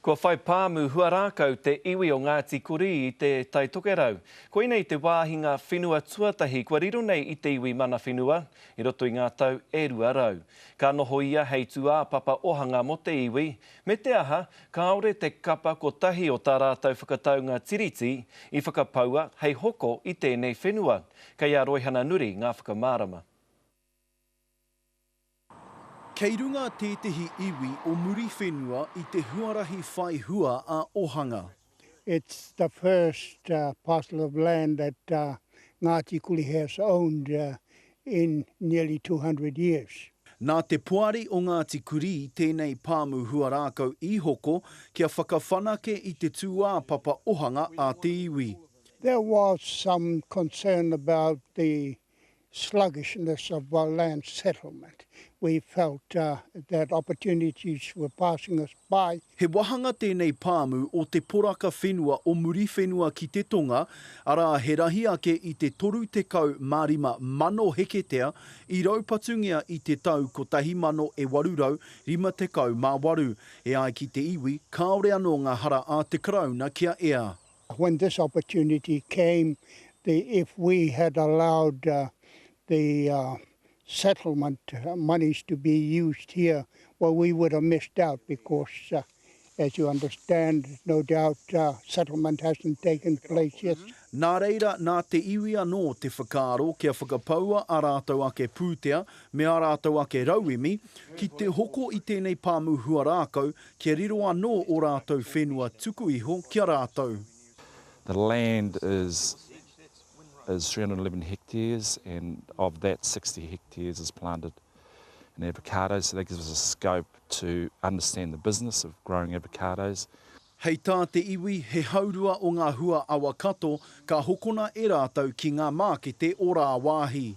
Kua whai pāmu huarākau te iwi o Ngāti Kurī i te Tai Tokerau. Koinei te wāhi ngā whenua tuatahi kua riro nei i te iwi mana whenua i roto i ngā tau e rua rau. Ka noho ia hei tūāpapa ohanga mō te iwi, me te aha, kāore te kapa kotahi o tā rātou whakataunga Tiriti i whakapaua hei hoko i tēnei whenua. Kei a Roihana Nuri ngā whakamārama. Kei runga tētehi iwi o Muriwhenua i te huarahi whai hua a Ohanga. It's the first parcel of land that Ngāti Kuli has owned in nearly two hundred years. Nā te Poari o Ngāti Kurī tēnei pāmu huarākau i hoko kia whakawhanake i te tūāpapa ohanga a te iwi. There was some concern about the sluggishness of our land settlement, we felt that opportunities were passing us by. He wāhanga tēnei pāmu o te poraka whenua o Muriwhenua ki te tonga, arā he rahi ake i te 35 mano heketea i raupatungia i te tau 1858, e ai ki te iwi kāore anō ngā hara a te Karauna kia ea. When this opportunity came, the if we had allowed the settlement monies to be used here, well we would have missed out because as you understand, no doubt settlement hasn't taken place yet. Nā reira, nā te iwi anō te whakaaro kia whakapaua ā rātou ake pūtea me ā rātou ake rauemi ki te hoko i tēnei pāmu huarākau Kia riro anō ō rātou whenua tuku iho ki a rātou. The land is is three hundred and eleven hectares and of that sixty hectares is planted in avocados so that gives us a scope to understand the business of growing avocados. Hei tā te iwi he haurua o ngā hua awa kato ka hokona e rātou ki ngā mākete o rāwāhi.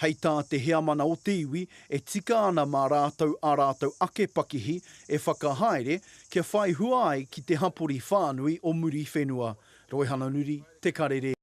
Hei tā te Heamana o te iwi, e tika ana mā rātou ā rātou ake pakihi e whakahaere kia whai hua ai ki te hapori whānui o Muriwhenua, Roehananuri, Te Karere,